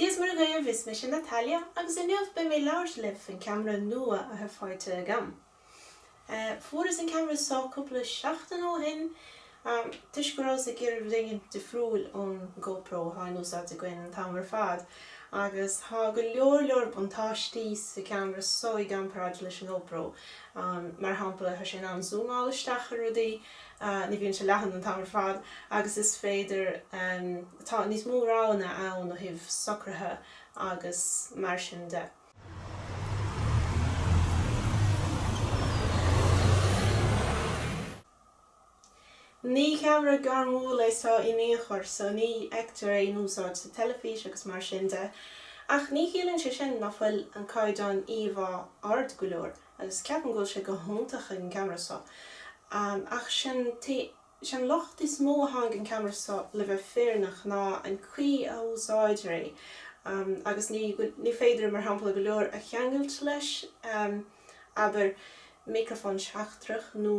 Dia is Muire dhaoibh, is mise Natalia agus inniu beidh mé ag labhairt libh faoin ceamara nua atá faighte agam. Fuaireas an ceamara seo cúpla seachtain ó shin toisc go rabhas ag iarraidh rud éigin difriúil ón GoPro atá in úsáid againn an t-am ar fad agus tá go leor leor buntáistí sa ceamara seo i gcomparáid leis an GoPro. Mar shampla, tá sé in ann zúmáil isteach ar rudaí, Ní bhíonn sé leathan an t-am ar fad agus is féidir, tá níos mó roghanna ann ó thaobh socruithe agus mar sin de. Ní ceamara gairmiúil é seo in aon chor so ní fheictear é in úsáid sa teilifís agus mar sin de, ach ní chiallaíonn sé sin ná fuil an caighdeán íomhá ard go leor. agus ceapaim go bhfuil sé go hiontach an ceamara seo ach sé an locht is mó atá ag an gceamara seo le bheith fírinneach ná an caoi a úsáidtear é agus ní féidir mar shampla go leor a cheangailt leis abair miocrafón seachtrach nó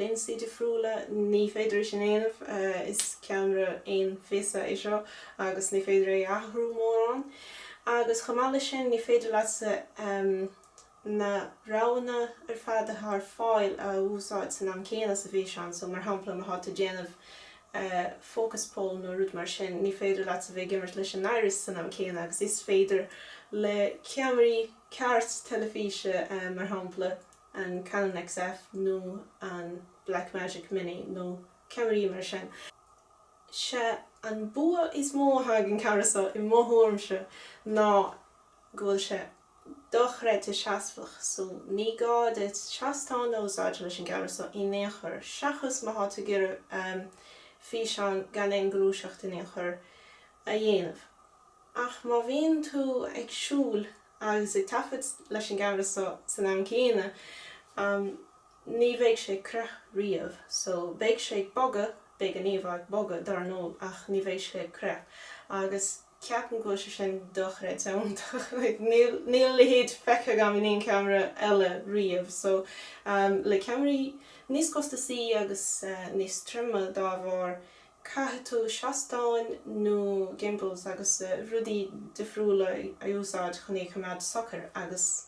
lionsaí difriúla ní féidir é sin a dhéanamh is ceamara aon phíosa é seo agus ní féidir é a athrú mórán agus chomh maith leis sin ní féidir leatsa na roghanna ar fad atá ar fáil a úsáid san am céanna sa bhfíseán. So, mar shampla, má tá tú ag déanamh focus pull nó rud mar sin, ní féidir leatsa bheith ag imirt leis an iris san am céanna agus is féidir le ceamaraí ceart teilifíse, mar shampla, an Canon XF nó an Blackmagic Mini nó ceamaraí mar sin. Sé an bua is mó atá ag an ceamara seo i mo thuairimse ná go bhfuil sé. dochreidte seasmhach so ní gá duit seastán a úsáid leis an gceamara so in aon chor seachas má thá tú ag iarraidh físeán gan aon gluaiseacht in aon chor a dhéanamh ach má bhíonn tú ag siúl agus ag taifead leis an gceamara so san am céanna ní bheidh sé ag crith riamh so beidh sé ag bogadh beidh an íomhá ag bogadh dar ndóigh ach ní bheidh sé ag crith agus Ceapaim go bhfuil sé sin dochreidte iontach. Níl a leithéid feicthe agam in aon ceamara eile riamh. So le ceamaraí níos costasaí agus níos troime dá bharr, caithfidh tú seastáin nó gimbals agus rudaí difriúla a úsáid chun é a choimeád socair agus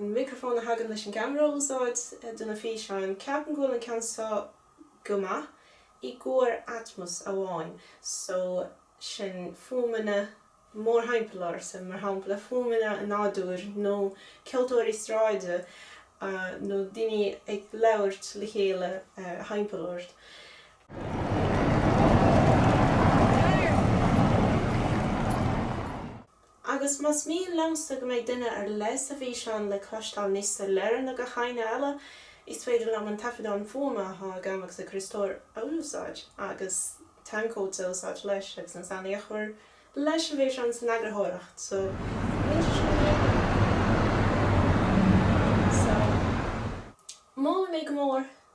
an micreafón a thagann leis an gceamara a úsáid do na físeáin. Ceapaim go bhfuil an ceann seo go maith i gcomhair Atmos amháin, so sin fuaimeanna mórthimpeall ort, mar shampla fuaimeanna an nádúir nó ceoltóirí sráide nó daoine ag labhairt le chéile thimpeall ort. Agus más mian leatsa go mbeidh duine ar leith sa bhfíseán le cloisteáil níos soiléire ná gach éinne eile, is féidir liom an taifeadán fuaime atá agam ach sa Chríostóir a úsáid agus timecode a úsáid leis agus an sound a chur leis an bhfíseán san eagarthóireacht so níl sé sin ródheacair. So, molaim é go mór.